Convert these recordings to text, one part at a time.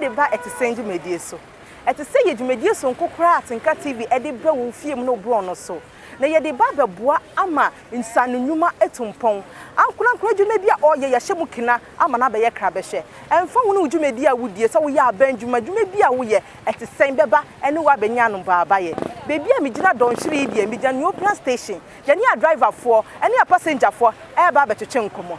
de ba Ɛtesɛn dwumadie so. Ɛtesɛn yɛ dwumadie sononko koraa a Atenka TV de ba wo fie mu ne wo borɔno so, na yɛde ba bɛboa ama nsaano nnwuma atu mpɔn. Ankorankoro adwuma bi a ɔreyɛ, yɛahyɛ mu kena ama no abɛyɛ krabɛhwɛ. Ɛmfa ho ne wo dwumadie a wodie, sɛ woyɛ aban adwuma, dwuma bi a woyɛ, Ɛtesɛn bɛba ne wo abɛnya anobaabaeɛ. Baabi a megyina dɔnhwere yi deɛ, megyina Nuopean Station. Yɛne adriverfoɔ ne apasenjafoɔ reba abɛtwetwe nkɔmmɔ.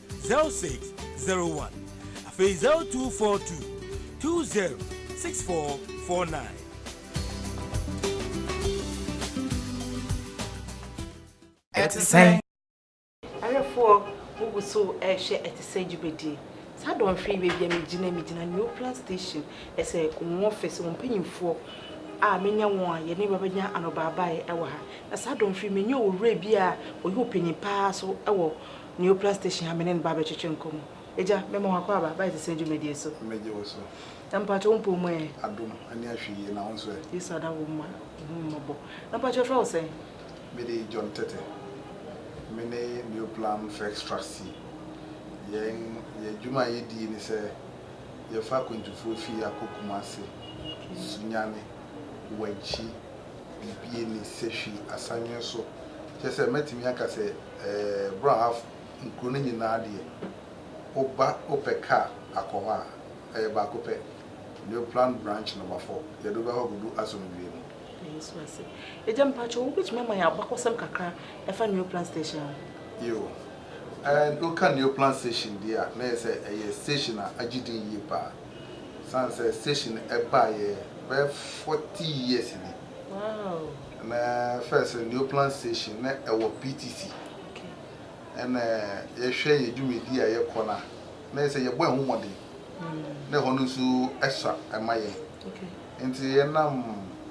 zero six zero one afei zero two four two two zero six four four nine. ɛte sɛ awerɛfoɔ wogu so ɛrehwɛ ɛte sɛ dwumadie saa dɔnhwere yi baabi a megyina megyina new plan station ɛsɛ wɔn office wɔn mpanyinfoɔ a menya wɔn a yɛne bɛbɛnya anɔbaabaeɛ ɛwɔ ha na saa dɔnhwere yi menya owura bi a ɔyɛ ɔpanyin paa so ɛwɔ Neopla station ha me ne no ba abɛtwetwe nkɔmmɔ. Agya, mema wo akwaaba ba ɛtesɛn dwumadie so. Megye wo so. Na mpakyɛ wo mpɔn mu ɛ? Adom, ani ahwe yie, na wo nso ɛ? Yesu ada wo mma, ɔhu me mmɔbɔ. Na mpakyɛ yɛfrɛ wo sɛn? Me din John Tete. Me ne Neoplan Firx Trustee. Yɛn yɛn adwuma a yɛdie ne sɛ yɛfa akwantufoɔ fie akɔ Kumase, Sunyani, Wankyi. biribi nni sɛ hwee asan nwen so. Kyerɛ sɛ, mɛtumi aka sɛ Brɔhaf nkuro no nyinaa deɛ, woba wopɛ kaa akɔ hɔ a, ɛyɛ baako pɛ, New Plant Branch Nɔma Fɔ, yɛde wo bɛhɔ kɔdu Asomdwie mu. Da Yesu ase. Agya, mpakyɛw, wobɛtumi ama yɛn abakɔsɛm kakra ɛfa New Plant Station ho? Yiw. Woka New Plant Station deɛ a, na ɛyɛ sɛ ɛyɛ station a agye din yie paa. San sɛ station ɛbaa yɛ bɛyɛ forty years ni. Wow. Ɛnɛ first Neoplan station na ɛwɔ PTC. Okay. Ɛnɛ yɛhwɛ yɛ dwumadi a yɛkɔ na na yɛ sɛ yɛbɔ ɛho mmɔden. Mm. Na ɛhɔ no nso ɛsua ɛma yɛn. Okay. Nti yɛnam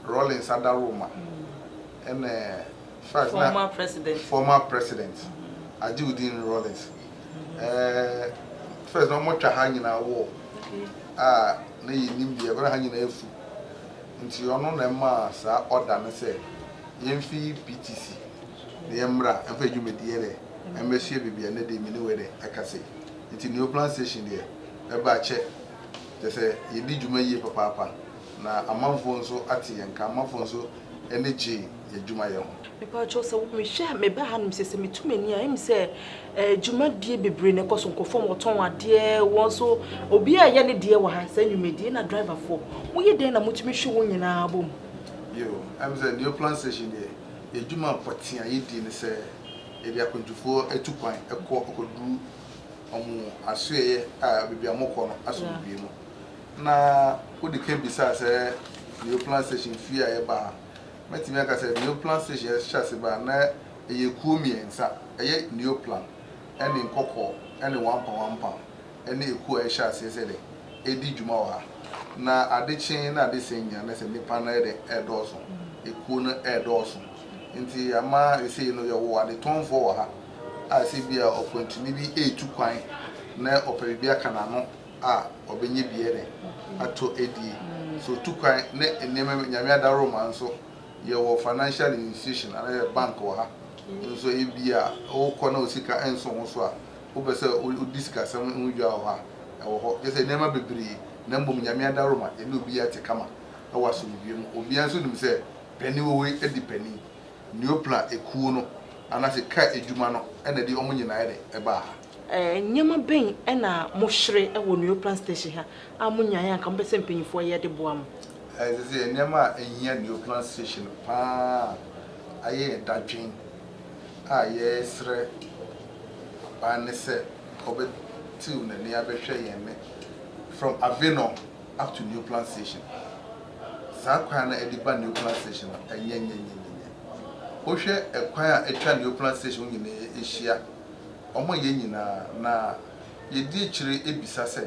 Rawlings Adaroma. Mm. Ɛnɛ first former na president. Former president. Mm. Ajiudin Rawlings. Eh first na ɔmo twa ha nyinaa wall a na yɛ nim deɛ ɛkɔ na ha nyinaa afu nti ɔno na ɛmaa saa order no sɛ yɛn fi PTC na yɛn mmra ɛnfa adwumadie dɛ ɛmɛ sua baabi ɛnɛ dɛ mini wɛ dɛ ɛka sɛ nti Neo Plan Station deɛ ɛba akyɛ kyɛ sɛ yɛ di dwuma yie papaapa na amanfoɔ nso ate yɛn nka amanfoɔ nso ɛni gyee. yɛ dwumayɛ ho. Mepakyɛw sɛ mehwɛ a meba hanom sɛ sɛ metu m'ani a ɛyɛ me sɛ dwumadie bebree na ɛkɔ so nkɔfɔm wɔtɔn adeɛ wɔn nso obi a ɛyɛ ne deɛ wɔ ha sɛ nnwumadie na driverfoɔ moyɛ dɛn na motumi hwe wɔn nyinaa bɔ mu. Yo, ɛyɛ me sɛ New Plan Station deɛ yɛ dwuma pɔtee a yɛdi ne sɛ yɛde akwantufoɔ tu kwan kɔ kɔduru wɔn asoɛeɛ a baabi a wɔkɔ no asomdwoeɛ mu. Na wode ka bisaa sɛ New Plan Station fie a yɛba ha Mɛtumi aka sɛ Neoplan Station yɛ hyɛ ase baa na ɛyɛ kuo mmiɛnsa, ɛyɛ Neoplan ɛne Nkɔkɔɔ ɛne Wampa Wampa ɛne ɛkuo a ɛhyɛ aseɛ sɛ dɛ ɛdi dwuma wɔ ha. Na ade kyee na ade sɛn nyinaa na sɛ nnipa no ayɛ dɛ ɛɛdɔɔso, ɛkuo no ɛɛdɔɔso nti ama sɛsei no yɛwɔ adetɔnfoɔ wɔ ha a sɛ bia ɔkwantuni bi ɛɛtu kwan na ɔpɛ biribi aka n'ano, a ɔbɛnya bi de atɔ adie. So otu kwan ne nneɛma bi, Nyame adaworoma nso yɛwɔ financial institution anaa yɛwɔ bank wɔ ha nso ebia wokɔ na wo sika nso wo so a wopɛ sɛ wodi sikasɛm ho dwa wɔ hɔ a ɛwɔ hɔ. Kyerɛ sɛ nneɛma bebree na mmom Nyame adaworoma yɛne obi ate kama wɔ asomdwoeɛ mu. Obiara nso nim sɛ panin wɔ hɔ yi adi panin. Neoplan ekuo no anaasɛ kaa adwuma no na ɛde wɔn nyinaa de baa ha. Nneɛma bɛn na mohwere wɔ Nuoplan Station ha a monyaeɛ a anka mopɛ sɛ mpanyinfoɔ yɛ de boa mo? Ɛsɛ sɛ yɛn nneɛma a ɛhia Nuoplan Station pa ara yɛ yɛn dadwen a yɛresrɛ aban no sɛ ɔbɛtew n'ani abɛhwɛ yɛn nnɛ, from Avenor up to Nuoplan Station. Saa kwan no a ɛde ba Nuoplan Station no, ɛnyɛ nyɛnyɛnyɛnyɛ. Wohwɛ kwan a atwa Nuoplan Station ho nyinaa ahyia Wɔma yɛn nyinaa, na yɛdi akyire bisa sɛ,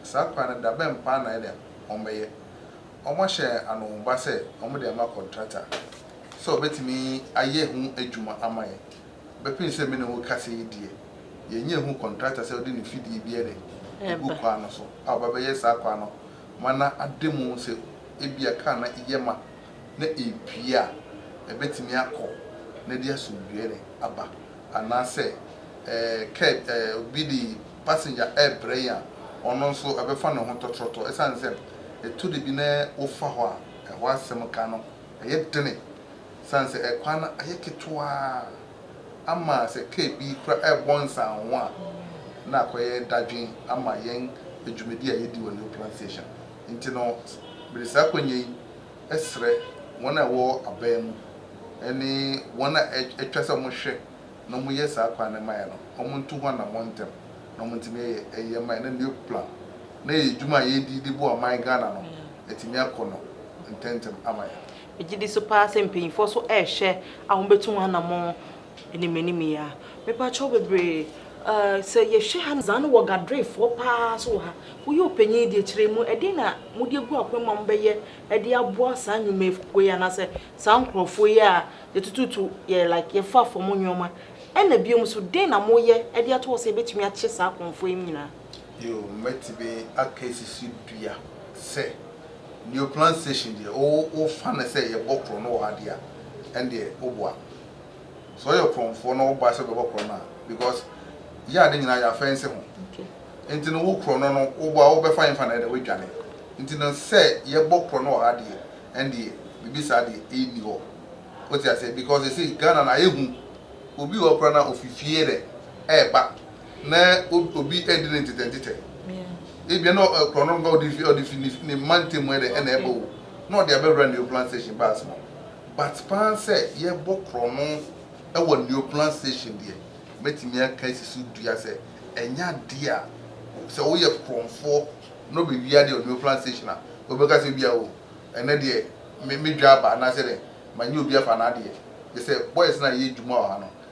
saa kwan no da bɛn paa na ɛyɛ dɛ wɔbɛyɛ? Wɔahyɛ yɛn anonba sɛ wɔde ama kɔntrata sɛ wɔbɛtumi ayɛ ho adwuma ama yɛn. Bɛpem sɛ me ne wo rekasa yi deɛ, yɛnnya nhuu kɔntrata sɛ ɔde ne fidie bi de regu kwan no so a ɔbɛbɛyɛ saa kwan no ma na ada mu sɛ ebia kar no yɛ ma. na epue a, ebetumi akɔ na ɛde asomdwoe aba. Anaasɛ kɛd, obi de passenger rebrɛ yɛn a, ɔno nso ɛbɛfa ne ho tɔtrɔtɔ. Esiane sɛ etu da bi na wofa hɔ a, ɛhɔ asɛm ka no yɛ dene. Esiane sɛ ɛkwan no ayɛ ketewa ama sɛ kɛd bi koraa rebɔ nsanho a, na akɔyɛ dadwen ama yɛn dwumadi a yedi wɔ New Plant Station. Nti no, mede saa akwanya yi srɛ wɔn a ɛwɔ aban mu ne wɔn a ɛtwa sɛ wɔhwɛ na wɔyɛ saa kwan no mmaeɛ no, wɔntu ho anammɔn ntɛm na wɔntumi ɛyɛ mmaeɛ na new plan na ɛyɛ adwuma a yɛredi de boa ɔman Ghana no atumi akɔ no ntɛntɛm ama yɛn. Megye di so paa sɛ mpanyinfoɔ so rehwɛ a wɔbɛtu ho anammɔn Ɛne m'anim yi a. Mepa kyɛw bebree. Uh, sɛ yɛhwɛ ha no, zaa no wɔ gadrefoɔ paa so wɔ ha. Woyɛ ɔpanyin deɛ kyerɛ mu, ɛdeɛn na mode agu akwan mu a mobɛyɛ de aboa saa nnwumakuo yi anaasɛ saa nkurɔfoɔ yi a yɛtututu yɛ like yɛfa fam nneɛma? Ɛna bio nso, deɛn na moyɛ de ato hɔ sɛ yɛbɛtumi akye saa akɔmfoɔ yi nyinaa? Yo, mɛtumi aka asi so dua sɛ, Neo Plant Station deɛ, wo, wofa no sɛ yɛbɔ korɔno wɔ ha deɛ a, ɛndeɛ woboa. sɛ ɔyɛ korɔnfoɔ na ɔba sɛ ɔbɛbɔ korɔno a because yɛ ade nyinaa yɛ afɛnse ho nti no wo korɔno no wobɔ a wobɛfa yɛmfa no ɛdɛ woadwane nti no sɛ yɛbɔ korɔno wɔ ha deɛ ɛndeɛ biribi saa deɛ ɛnni hɔ wote aseɛ because ɛsei Ghana no ayɛ hu obi wɔ kora na ofi fie dɛ ɛɛba na obi ɛdi ne ntetɛ ntetɛ ebia na korɔno no nka ɔde fi ne mma ntɛmu ɛdɛ ɛna ɛbɔ wo na ɔde abɛwura ne Upland station bus mu But paa sɛ yɛbɔ korɔno wɔ Neoplan station deɛ, mɛtumi aka asi so dua sɛ ɛnyɛ adeɛ a sɛ woyɛ korɔnfoɔ na ɔbɛwia deɛ wɔ Neoplan station a, wobɛka sɛ ebia o ɛnɛ deɛ me me dwa aba anaasɛ dɛn, manyɛ obi afa n'adeɛ. Gye sɛ boys no a yɛyɛ adwuma wɔ ha no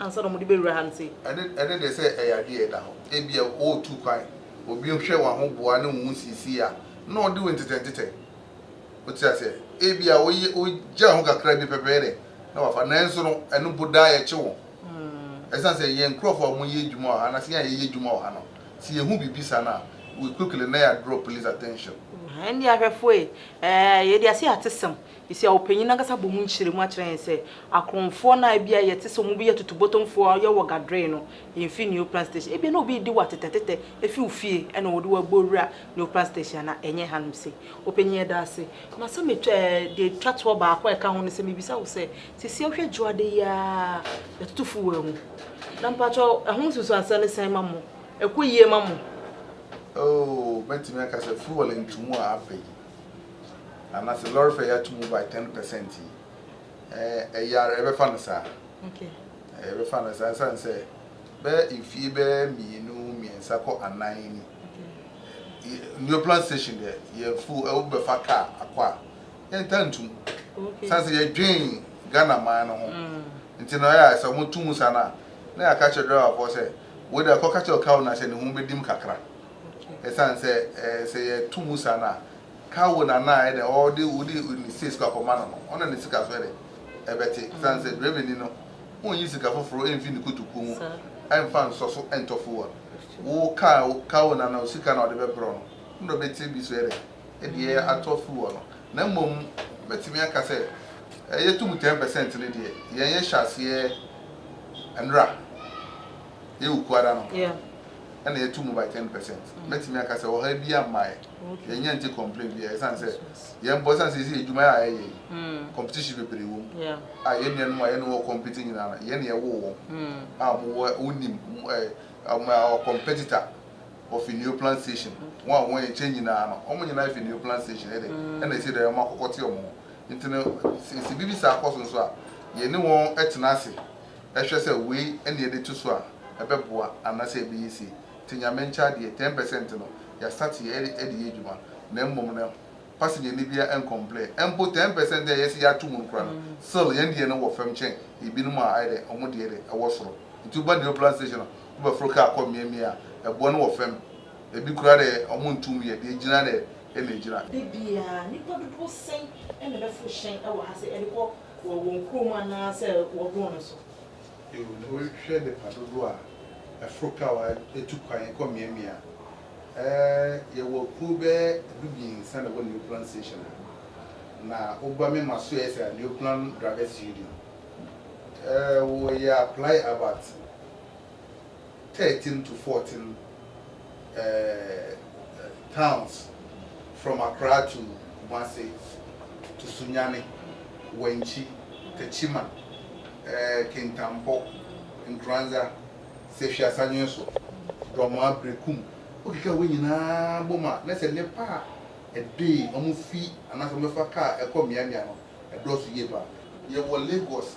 Ansa na wɔde bɛwura ha nti. Ɛne, ɛne deɛ sɛ ɛyɛ adeɛ a ɛda hɔ, ebia ɔretu kwan, obi hwɛ w'ahoboa ne wo ho siesiei a, na ɔde wo ntetɛntetɛ. Wote aseɛ? Ebia woyɛ, wogyaa ho kakra bi pɛpɛɛ dɛ, na wafa. Nanso no, ɛno mpo daa yɛkye wɔn. Ɛsiane sɛ yɛn nkurɔfoɔ a wɔyɛ adwuma wɔ ha, anaasɛ yɛn a yɛyɛ adwuma wɔ ha no, sɛ yɛhu biribi saa no a, we quickly, na yɛadraw police attention. Ɛnneɛ ahwɛfoɔ ei, ɛɛ, yɛde aseɛ atesɛm, Esia ɔpanyin no ankasa bɔ mu nkyerɛmu akyerɛ yɛn sɛ akorɔnfoɔ no a ebia yɛte sɛ wɔyɛ tutubotomfoɔ a wɔyɛ wɔ Gadrei no mfi Neoplan Station. Ebia na obi redi wo atetɛtetɛ afi wo fie na wɔde wo abɔ awura Neoplan Station anaa ɛnyɛ hanom sei. Ɔpanyin, yɛda ase. Ma sɛ metwa ɛɛ deɛ etwa toɔ baako a ɛka ho ne sɛ mebisa wo sɛ, seesei wohwɛ Dwoada yi ara a yɛtoto fuel amu. Na mpakyɛw ɛho nsunsuansoɔ ne sɛn ma mo? Ɛkɔ yie ma mo? Oh, mɛtumi aka sɛ fuel nto mu a afei. ana sɛ lɔre fɛ yɛ ato mu by ten percent yi ɛyɛ ara ɛbɛfa no saa ɛbɛfa no saa ɛsan sɛ bɛyɛ mfie bɛyɛ mmienu mmiɛnsa kɔ anan ni new plan station deɛ yɛ full ɛwo bɛfa kaa akɔ a yɛn ta ntum san sɛ yɛdwen ghana man no ho mm. nti na ɛyɛ sɛ wɔn tum sa na na yɛ aka kyerɛ driver fɔ sɛ wɔde akɔ kakyɛ ɔka wɔn na sɛ ne ho bɛdim kakra. Ɛsiane sɛ sɛ yɛto mu saa no a, ka wo nana a ɛdɛ ɔde wode ne sika sika kɔma no no, ɔna ne sika so ɛdɛ ɛbɛte. Ɛsiane sɛ dwamani no, wonnyi sika foforo mfi ne kotokuo mu mfa nsɔ so ntɔ fuel. Wo ka ka wo nana sika na ɔde bɛbrɛ no, wo na ɔbɛte bi so ɛdɛ de atɔ fuel no. Na mmom mɛtumi aka sɛ yɛto mu ten percent no deɛ, yɛn yɛhyɛ aseɛ nnora. Yɛ yɛ okuo ara no ɛna yɛtu mu by ten percent. Mɛtumi aka sɛ ɔhaw biara mmaa yɛ. Yɛnnya nte complain biara ɛsiane sɛ yɛn bɔ ɛsiane sɛ yɛsi adwuma a yɛyɛ yi competition bebree wɔ mu a yɛn nuanom a yɛne wɔn compete nyinaa no yɛn na yɛwoo wɔn a wɔwɔ wonim wɔn competitor wɔfi Neo Plant Station wɔn a wɔyɛ nkyɛn nyinaa no wɔn nyinaa fi Neo Plant Station ɛdɛ ɛna ɛsi dɛ wɔn akɔkɔte wɔn ho nti no sɛ biribi saa kɔ so nso a yɛne wɔn tena ase Hwɛ sɛ wei na yɛde to so a ɛbɛboa anaasɛ ɛbɛyɛ sei. Nti Nyame nkyɛ adeɛ, ten percent no, yɛ start yɛ de yɛ adwuma na mmom no pasenyani biara ɛncomplain. Mpo ten percent a yɛse yɛato mu no koraa no, still yɛn deɛ no wɔ fam kyɛn ebinom a ayɛ dɛn, wɔn deɛ deɛ ɛwɔ soro. Nti woba Neoplan station a, wobɛforo kaa kɔ mmeammea a, ɛboɔ no wɔ fam. Ebi koraa deɛ wɔnto mu yɛ, deɛ ɛgyina deɛ ɛna ɛgyina. Da biara, nnipa dodoɔ sɛn na ɛbɛforo hyɛn wɔ ha sɛ ɛde kɔ Wɔ wɔn kurom anaa sɛ wɔboro no so. Yiw, na wohwɛ nnepa dodow a ɛforo kawa tu kwan kɔ mmeaemmeae a ɛɛ yɛwɔ akuw bɛyɛ dubiɛnsa na ɛwɔ Neoplan Station ha, na woba mema so a ɛyɛ sɛ Neoplan Drivers Union. Ɛɛ wɔyɛ apply about. 13 to 14 eh, towns from Accra to Kumasi to Sunyani, Wenchi, Techiman, eh, Kintampo, Nkoranza, Sefwi Asanwenso, Dormaa, Berekum, wokeka wei nyinaa bom a, na sɛ nnepa a ɛde wɔn fi anaasɛ wɔbɛfa kaa ɛkɔ mmeammea no, ɛdɔɔso yie paa. Yɛwɔ Lagos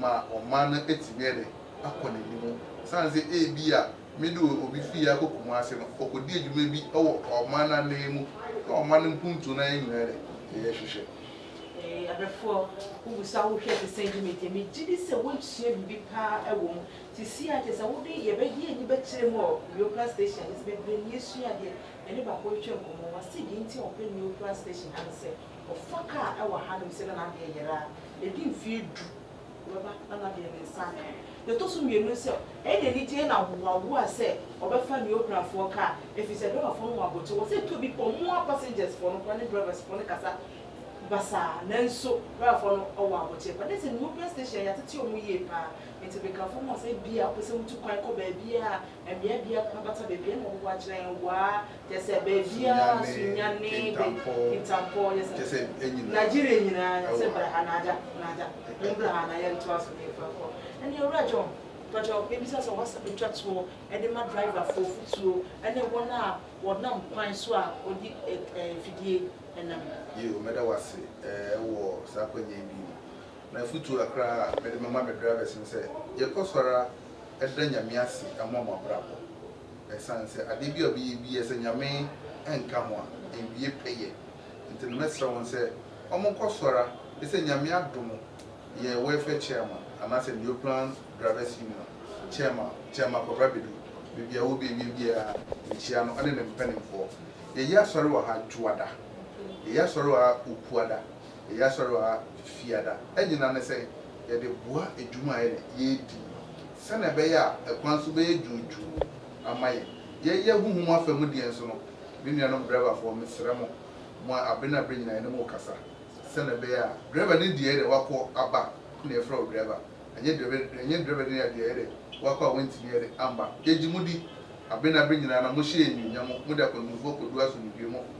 ma ɔman no atumi de akɔ n'anim. Esiane sɛ ebia me de obi fii ha kɔ Kumasi no, ɔkɔdi adwuma bi wɔ ɔman no ananmu na ɔman no mpuntuo no ayɛ nyinaa de, ɛyɛ hwehwɛ. Ee, abɛfoɔ, wogu so a wohwɛ te sɛ dwuma ti a, megye di sɛ woresua biribi pa ara wɔ mu. Seesei ara kyerɛ sɛ wode yɛbɛgye yɛn ani bɛkyerɛ mu wɔ Niopra Station ha, nti bebree nni asuadeɛ. Yɛne baako retwa nkɔmmɔ, ɔse deɛ nti a ɔpɛ Niopra Station ha ne sɛ, Ɔfa kaa wɔ ha nom sɛ na n'adeɛ yɛrɛ a ɛdi mfeɛ du ɔbɛba na n'adeɛ ne nsa aka. Deɛ ɛtɔ so mmienu no sɛ ɛyɛ no anigyeɛ na hoahoa sɛ ɔbɛfa ne okurafoɔ kaa ɛfiri sɛ driverfoɔ no wɔ abokyɛ wɔ sɛ ɛtɔ bi pɔ mo ara passengers foɔ no koraa ne drivers foɔ no kasa basaa nanso driverfoɔ no wɔ abokyɛ paa na sɛ ne European station yɛatete wɔn yie paa nti meka fam hɔ sɛ bia wopɛ sɛ wotu kwan kɔ baabiara a Mbea biara na bata beebiara na wɔbɔbɔ akyerɛ hɛn waa kyerɛ sɛ beebiara Sunyani, Kintampɔɔ, Kintampɔɔ yɛ sɛ kyerɛ sɛ enyina Nigeria nyina sɛ bra ha na agya na agya mombra ha na yɛntoa so na yɛmfa nkɔ ɛnde Owura John mpakyɛw mebisa sɛ w'asɛm betwa toɔ de ma driver foɔ futuo ne wɔn a wɔnam kwan so a wɔde ɛɛ afidie nam. Yiw, mɛda wo ase ɛɛ wɔ saa akwannya yi bio. M'afotu a koraa mede mema me drivers ne sɛ yɛkɔ so ara da Nyame ase ma mo abrabɔ. Ɛsan sɛ adeɛ bi a ɔbɛyɛ biaa sɛ Nyame nka ho a ɛnwie pɛyɛ. Nti no mɛsrɛ wɔn sɛ ɔmo nkɔ so ara ne sɛ Nyame adom yɛn welfare chairman anaasɛ Neoplan drivers union chairman Chairman Kwabra Badu baabi a ɔwɔ biaa biaa mekyia no ɔne ne mpaninfoɔ. Yɛyɛ asɔre wɔ ha Dwoada, yɛyɛ asɔre wɔ ha Okuada. yɛyɛ Asɔre ha Fiada nyinaa ne sɛ yɛde boa adwuma a yɛne yɛredi no sɛnea ɛbɛyɛ a ɛkwan so bɛyɛ dwoodwoo ama yɛn. Yɛyɛ honhom afa mu deɛ nso no, me nuanom driverfoɔ, mesrɛ mo, mo a abere ne abere nyinaa yɛne mo kasa sɛnea ɛbɛyɛ a driver no deɛ ɛyɛdɛ wakɔ aba na yɛfrɛ wo driver, ɛnyɛ driver ɛnyɛ driver no deɛ ɛyɛdɛ wakɔ a wantumi ɛyɛdɛ amba. Yɛgye mo di abere ne abere nyinaa na mohyɛ yɛn anuonyam, mode akwantufoɔ kɔdu asomdwoeɛ mu.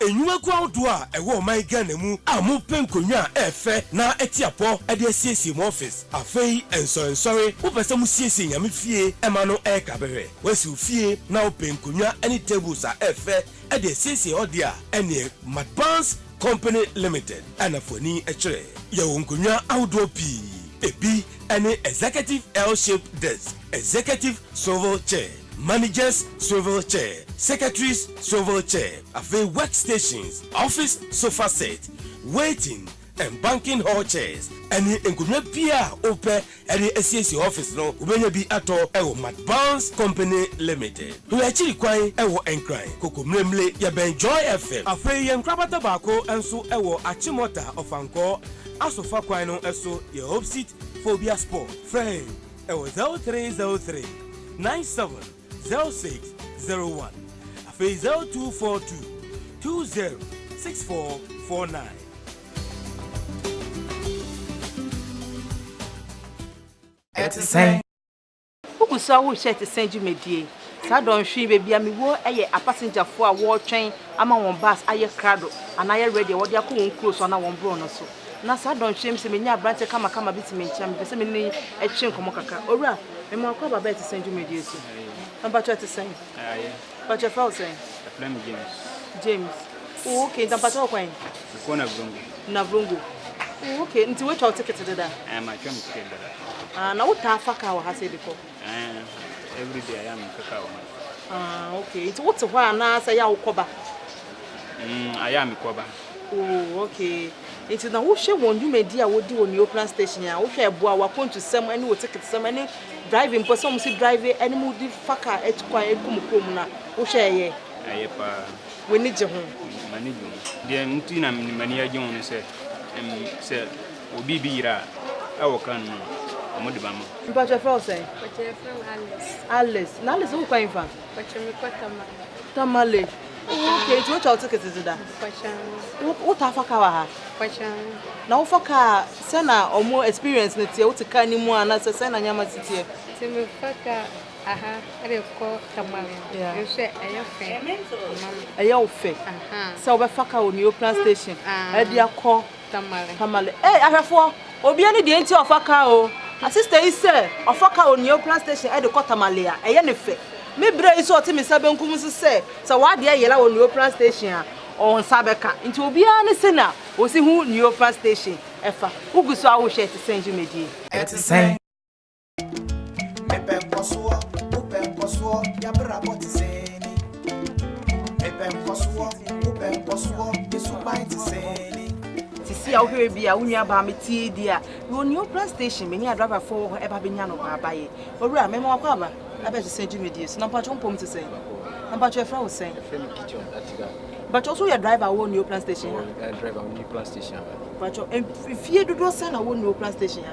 Nnwumakuo ahodoɔ a ɛwɔ ɔman Ghana mu a mo pɛ nkonnwa a ɛɛfɛ na ɛte apɔ de asiesie mo office. Afei nsɔre nsɔre mo pɛ sɛ mo siesie Nyame fie ɛma no ɛɛka bɛhwɛ. Woasi wo fie na wo pɛ nkonnwa ɛne tables a ɛɛfɛ ɛde asiesie hɔ deɛ a ɛneɛ Madbanz company limited ɛna fo ani ɛkyerɛ. Yɛwɔ nkonnwa ahodoɔ pii. Ɛbi ɛne executive L-shaped desk, executive swivel chair. Managers Swivel Chair, Secretaries Swivel Chair, afei Work Stations, Office Sofa Set, Waiting and Banking Hall Chairs, ɛne nkonnwa biara a wopɛ de asiesie office no, wobɛnya bi atɔ wɔ Matt Barnes Company Limited. Hwɛ akyiri kwan wɔ Nkran, Kokomlemle, yɛbɛn Joy FM. Afei yɛn nkorabata baako nso wɔ Achimota, Ɔfankɔɔ, Asofa kwan no so, yɛ Hope Seat Phobia Spot. Frɛ yɛn. Ɛwɔ zero three zero three nine seven zero six zero one afei zero two four two two zero six four four nine. Ɛte sɛn? Wogu so ara rehwɛ ɛte sɛn dwumadie. Saa dɔnhwere yi baabi a mewɔ yɛ apasengyafo a wɔretwɛn ama wɔn bus ayɛ krado anaa ayɛ ready a wɔde akɔ wɔn kuro so anaa wɔn borɔno so. Na saa dɔnhwereɛ mu sɛ menya aberanteɛ kamakama bi te me nkyɛn a, mepɛ sɛ me ne no twe nkɔmmɔ kakra. Owura, me mmoa kɔ aba bɛyɛ te sɛn dwumadie so? Na mpakyɛ ɛte sɛn? Ɛyɛ. Mpakyɛ yɛfrɛ wo sɛn? Yɛfrɛ me James. James. Oh, ok, nti mpakyɛ wɔ kwan? Mekɔ Navrongo. Navrongo. Oh, ok, nti woatwa wo ticket dada? Ɛɛ, matwa me ticket dada. Ah, na wotaa fa kaa wɔ ha sɛ de kɔ? Ɛɛn, every day I am in Kaka Oma. Ah, okay. Nti wote hɔ a na sɛ ya wokɔba? Mm, I am kɔba. Oh, okay. Nti na wohwɛ wɔn dwumadi a wodi wɔ Neoplan station a wohwɛ ɛboa w'akwantusɛm ne wo tiketsɛm ne drive mpo sɛ wɔn si drive ne mu di fa ka atu kwan atu kɔ mu kurom na wohwɛ ɛyɛ. Ɛyɛ paa. W'ani gye ho. M'ani gye ho. Deɛ nti na m'ani agye ho ne sɛ, sɛ Wɔ biribi yera a wɔ kan mu a wɔde ma mo. Mpakyɛ yɛfrɛ wo sɛn? Mpakyɛ yɛfrɛ me Alice. Alice na Alice wo kwan fa? Mpakyɛ me kɔ Tamale. Tamale oh okay nti wotwa wo ticket dze da? Mpakyɛ wo wo taa fa car wɔ ha? Mpakyɛ wo. Na wo fa car sɛ na ɔmo experience no teɛ wo te car no mu a na sɛ sɛ na nneɛma si teɛ? Nti me fa car aha ɛde kɔ Tamale no yeah nso ɛyɛ fɛ ma me. Ɛyɛ wo fɛ sɛ wo bɛ fa car wɔ Nioprah station ɛde akɔ. Tamale. Tamale. Ei ahwɛfoɔ, obia ne deɛ nti a ɔfa car o. Asista yi sɛ ɔfa car wɔ Nueoplan station ɛde kɔ Tamale a, ɛyɛ ne fɛ. Me bra yi nso a ɔte me nsa benkum nso sɛ, sɛ w'adeɛ yera wɔ Nueoplan station a, ɔwɔ nsa bɛka. Nti obia ne sɛnea a ɔsi hu Nueoplan station ɛfa. Wo gu so a wo hwɛ ɛte sɛn dwumadie? Ɛte sɛn? Mepɛ nkɔsoɔ, wopɛ nkɔsoɔ, yɛabrabɔ te sɛɛni. Mepɛ nkɔsoɔ, wopɛ nkɔsoɔ, yɛ suban te sɛɛni. Sisi a wohwɛ bi a wo nua baa me tie di a wɔ Neoplan station me ne adriver fo wɔ hɔ ɛba bɛnya no wɔ abayɛ owura mɛma wakɔ aba abɛhwɛ sɛ dwumadie so na mpatwɔ mpom te sɛn na mpatwɔ ɛfrɛ wo sɛn mpatwɔ so yɛ driver wɔ Neoplan station ha mpatwɔ mfie dodoɔ sɛn na wɔ Neoplan station ha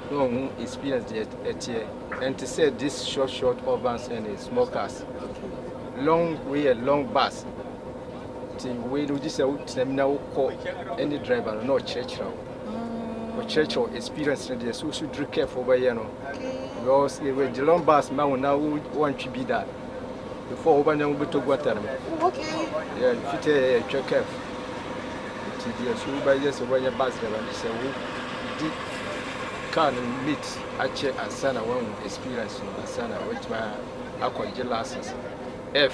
na ɔho experience deɛ ɛteɛ ɛnte sɛ this short short urbans and small cars long way and long bus nti wei no gye sɛ wotena mu na wokɔ ɛne driver no na ɔkyerɛkyerɛ wo ɔkyerɛkyerɛ wo experience no deɛ so wosu duru careful wobɛyɛ no because with the long bus ma wo na woantwe bi da before wo banya wo bɛtɔ guata no yɛ fitɛ yɛ twɛ kɛf nti deɛ so wo bɛyɛ sɛ wobɛnyɛ bus driver no sɛ wo di car no meet akyɛ ansa na wahu experience no ansa na watumi akɔgye license f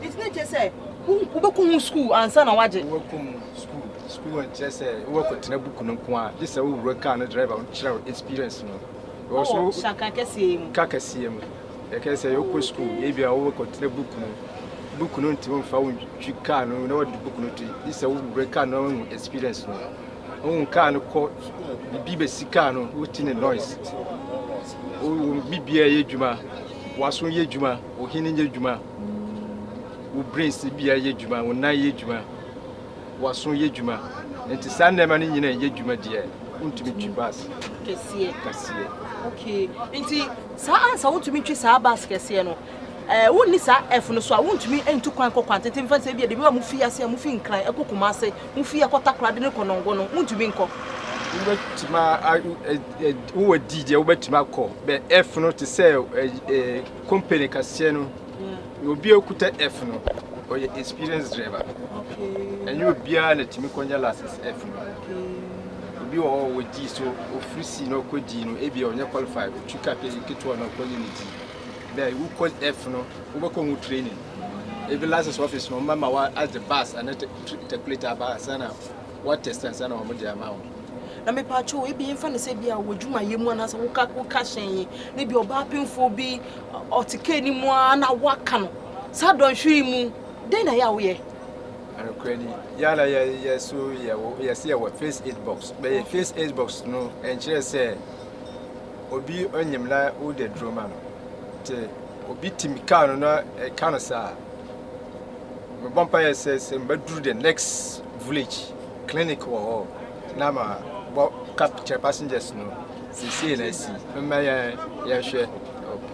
Nti na ɛkyerɛ sɛ wobɛkɔ ho sukuu ansa na woagye? Wobɛkɔ mu sukuu. Sukuu nkyerɛ sɛ wobɛkɔtena buku no nko a, gye sɛ wowura kaa no driver no kyerɛ wo experience no. Ɛwɔ so Ɔwɔ hyɛnka kɛseɛ mu. ka kɛseɛ mu. Ɛkɛ sɛ wokɔ sukuu, ebi a wobɛkɔtena buku no. Buku no ntumi mfa wo ntwi kaa no na wode buku no to yi. Gye sɛ wowura kaa no na woahu experience no. Wohu kaa no kɔ, biribi bɛsi kaa no, wote ne noise. Wo wo bibia yɛ adwuma, w'aso yɛ adwuma, wo hwene nyɛ adwuma. wo brain si bia yɛ adwuma wo nan yɛ adwuma waso yɛ adwuma nti saa nneɛma no nyina yɛ adwuma deɛ wontumi twi bus kɛseɛ kɛseɛ okay nti saa ansa wotumi twi saa bus kɛseɛ no ɛɛ eh, wonni saa ɛfo no so a wontumi ntu kwan kɔ kwan tete mfa sɛ bi a debi a mo fi ase a mo fi nkran ɛkɔ kuma ase mo fi ɛkɔ takora de ne kɔ nɔngo no wontumi nkɔ wobɛtumi wowɔ di deɛ wobɛtumi akɔ bɛ ɛfo no te sɛ ɛɛ Company kaseɛ no na obi a okuta F no ɔyɛ experience driver ɛnyɛ obiara na tumi kɔnya license F no obi wɔ hɔ wɔ G so ofiri C na ɔkɔ G no ebi a ɔnyɛ qualify otwi ka pe ketewa na ɔkɔ yɛ ne G bɛɛ wokɔ F no wobɛkɔ ho training ebi license office no ɔmma ma wa as the bus ana takulate aba sana What test ansa na wɔn de ama wɔn. Na mepa atwo ebi yɛn fa ne sɛ bi a wɔ dwumayɛ mu anaasɛ woka woka hyɛn yi ne bi ɔbaa pemfoɔ bi ɔte kaa ni mu a na waka no saa dɔnhwere mu dɛn na yɛ a woyɛ. Anokora ni yala yɛ yɛ so yɛ wɔ yɛ se yɛ wɔ face aid box bɛyɛ face aid box no ɛnkyerɛ sɛ obi ɔnyim na wode duro ma no te obi tim kaa no na ɛka no saa mebɔ mpaeɛ sɛ sɛ mbɛduru the next village clinic wɔ hɔ na ma bɔ ka kyerɛ passengers no seesei na asi mma yɛ yɛhwɛ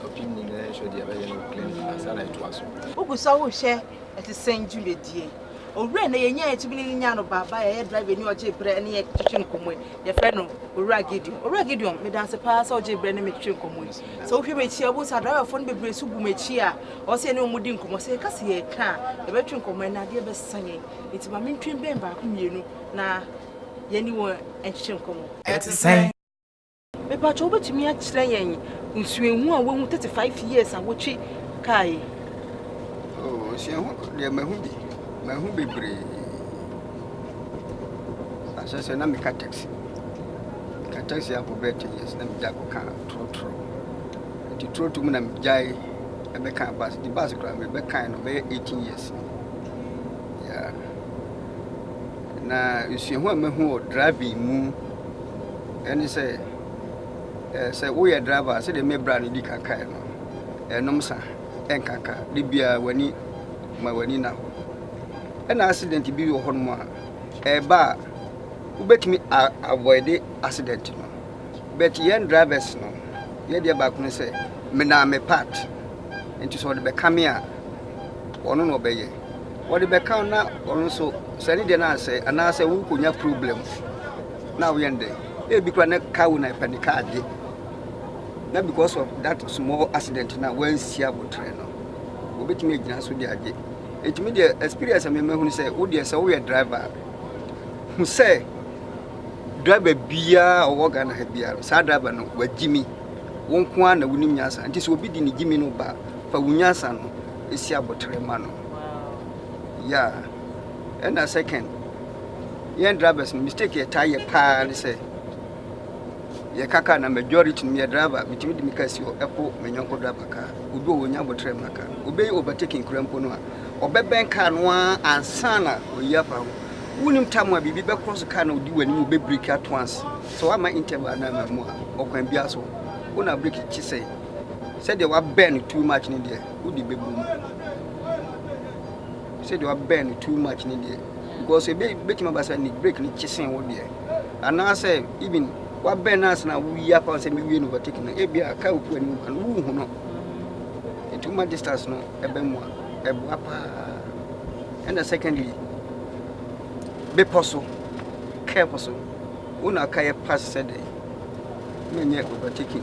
ɔpem ni na yɛhwɛ deɛ ɛbɛyɛ no clinic ansa na ɛtoa so wogu sɛ wohwɛ ɛte sɛn dwumadie owura na yɛnya yɛtumi ne nya no baaba yɛyɛ driver ni ɔgye berɛ ne yɛ twetwe nkɔmmɔ yɛfrɛ no owura gideon owura gideon medanse paa sɛ ɔgye berɛ ne me twetwe nkɔmmɔ sɛ wohwɛ m'akyi a wohu sɛ adriverfoɔ no bebree so gu m'akyi a Ɔse yɛne wɔn di nkɔmmɔ, sɛ yɛka sɛ yɛreka a yɛbɛtwe nkɔmmɔ no adeɛ bɛsa yɛn, nti ma mentwe bɛn baako mmienu na yɛne wɔn nkyekyɛ nkɔmmɔ. Ɛte sɛn? Mepakyɛ wobɛtumi akyerɛ yɛn nsuahu a woahu 35 years a wotwe kaa yi? Oh, nsuahu deɛ mahu bi, mahu bebree. Ahyɛ sɛ na meka taxi, meka taxi akɔ bɛɛ 10 years na megya kɔka trotro, nti trotro mu na megyae. ɛbɛka bus de bus kura me bɛkae no bɛyɛ eighteen years ni yeah. na nsuahu a mahu wɔ driving mu ɛne sɛ eh, sɛ woyɛ driver sɛdeɛ mebra no di kankae no ɛnom sa ɛnkanka de biara w'ani ma w'ani na hɔ ɛna accident bi wɔ hɔnom a ɛba a wobɛtumi avoide accident no but yɛn drivers no yɛ deɛ baako ne sɛ menaa me part nti sɛ ɔde bɛka me a ɔno na ɔbɛyɛ ɔde bɛka na ɔno nso sɛ ne deɛ no asɛ anaasɛ wokɔnya problem na woyɛ ndɛ ebi kora ne ka wo na ɛpɛ ne kaa gye na because of that small accident na wansi abotrɛ no wɔbɛtumi agyina so de agye ɛtumi deɛ experience a memahunu sɛ wodeɛ sɛ woyɛ driver hu sɛ Driver biara a ɔwɔ Ghana ha biara no, saa driver no wagye mi. Wo nko ara na wonim nyansa. Nti sɛ obi de ne gye mi no ba a, fa wo nyansa no si abotere ma no. Ya. Ɛna second, yɛn drivers no mistake yɛtaa yɛ paa ne sɛ yɛka kaa na majority no yɛ driver metumi de me kaa si hɔ ɛpo me nyɔnko driver kaa obi wɔ wɔnya abotere ma kaa obeyi overtaking kura mpo no a ɔbɛbɛn kaa no ara ansa na oyi afa ho Wonnim tam a biribi bɛkorɔ so kar na odi w'anim bɛ breki at once sɛ wamma interval anaa mmamu a, ɔkwan biara so wo na breki kye sɛe. Sɛdeɛ wabɛn no too much ne deɛ, wode bɛbu mu. Sɛdeɛ wabɛn no too much ne deɛ, because ebe betumi aba sɛ ne breki no kye sen wo deɛ. Anaasɛ even wabɛn no ansa na woyi apa wo sɛ mewie no overtake no, ebi a car opu anim ba no, wohu no. Nti woma distance no ɛbɛn mu a, ɛboa paa. ɛna secondly bepɔ so kɛɛ po so wo na aka yɛ pass sɛ dɛ na nyɛ overtaking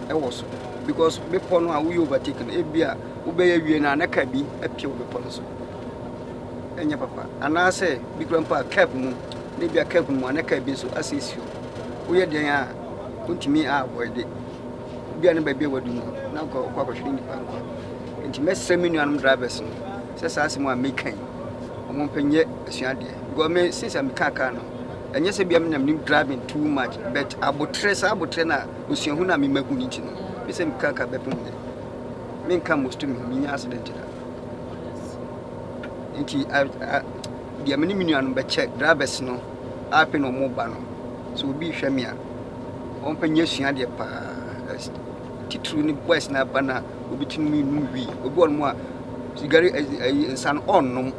ɛwɔ so because bepɔ no a woyɛ overtaking ebi a wobɛyɛ wie no a na kaa bi apia wo bepɔ no so ɛnyɛ papa anaasɛ bi kura mpo a cap mu na ebi a cap mu a na kaa bi nso asiesie woyɛ deɛn a wontumi a avoid it Ebi a ne baabi a wadu no, na anka ɔkɔ akɔhwere nnipa nkwa. Nti mɛsrɛ me nuanom drivers no sɛ saa asɛm a meka yi, wɔn mpɛ nyɛ asuadeɛ. Because me, since a meka kaa no, ɛnyɛ sɛ bia menam nim driving too much, but abotrɛ, saa abotrɛ no a, osuahu no a mema hu no nti no, me sɛ meka kaa bɛpem nnɛ. Menka mosto me ho, menya accident da. Nti, deɛ me ne me nuanom bɛkyɛ drivers no, Ape na ɔmo ba no sɛ obi rehwɛ me a ɔmo pɛ nyɛ sua deɛ paa titiriw ne boys na ba na obi ti nom num wi obi wɔ nom a sigari ɛyi nsa no ɔnnom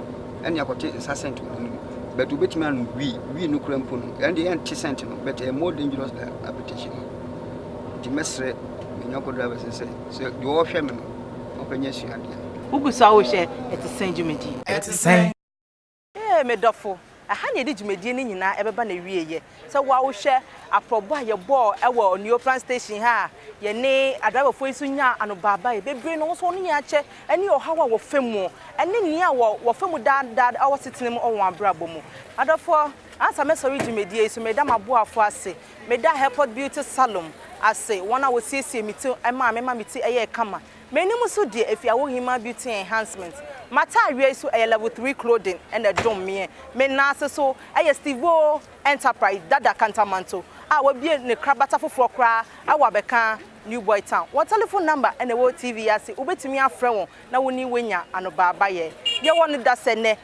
ɛne akɔte nsa sɛnt wɔ nom but obetumi anom wi wi no kura mpo no ɛne deɛ ɛnte sɛnt no but ɛyɛ more dangerous than apetition no nti mɛsrɛ me nyɔnko driver sɛ sɛ sɛ deɛ ɔrehwɛ me no ɔpɛ nyɛ sua deɛ. Wogu so a wohwɛ ɛte sɛn dwumadi? Ɛte sɛn? Ee, me dɔfo, ɛha na yɛde dwumadie no nyinaa ɛbɛba n'awieɛ. Sɛ woahwɛ aprɔbɔ a yɛbɔɔ wɔ Onuofra station ha a yɛne adriverfoɔ yi nso nyaa anobaabaeɛ bebree na wɔn nso wɔn ani akyɛ ɛne ɔhaw a wɔfa mu ɛne nea wɔfa mu daa daa wɔ asetena mu wɔ wɔn abrabɔ mu. Adɔfoɔ, ansa mɛsɔre dwumadie yi so, meda m'aboafoɔ ase. Meda Airport Beauty Salon ase, wɔn a wɔsiesie me ti maa me ma me ti yɛɛ kama. M'anim so deɛ ɛfiri Awohima Beauty Enhancement. M'ataareɛ yi so ɛyɛ Level Three Clothing na ɛdom meɛ. Me nan ase so ɛyɛ Stevo Enterprise Dada Kantamanto a wabue ne krabata foforɔ koraa wɔ Abɛka, New Boy Town. Wɔn telefon namba na ɛwɔ TV yi ase, wobɛtumi afrɛ wɔn na wo ne wɔanya anobaabayɛ. Yɛwɔ no dasɛ nnɛ.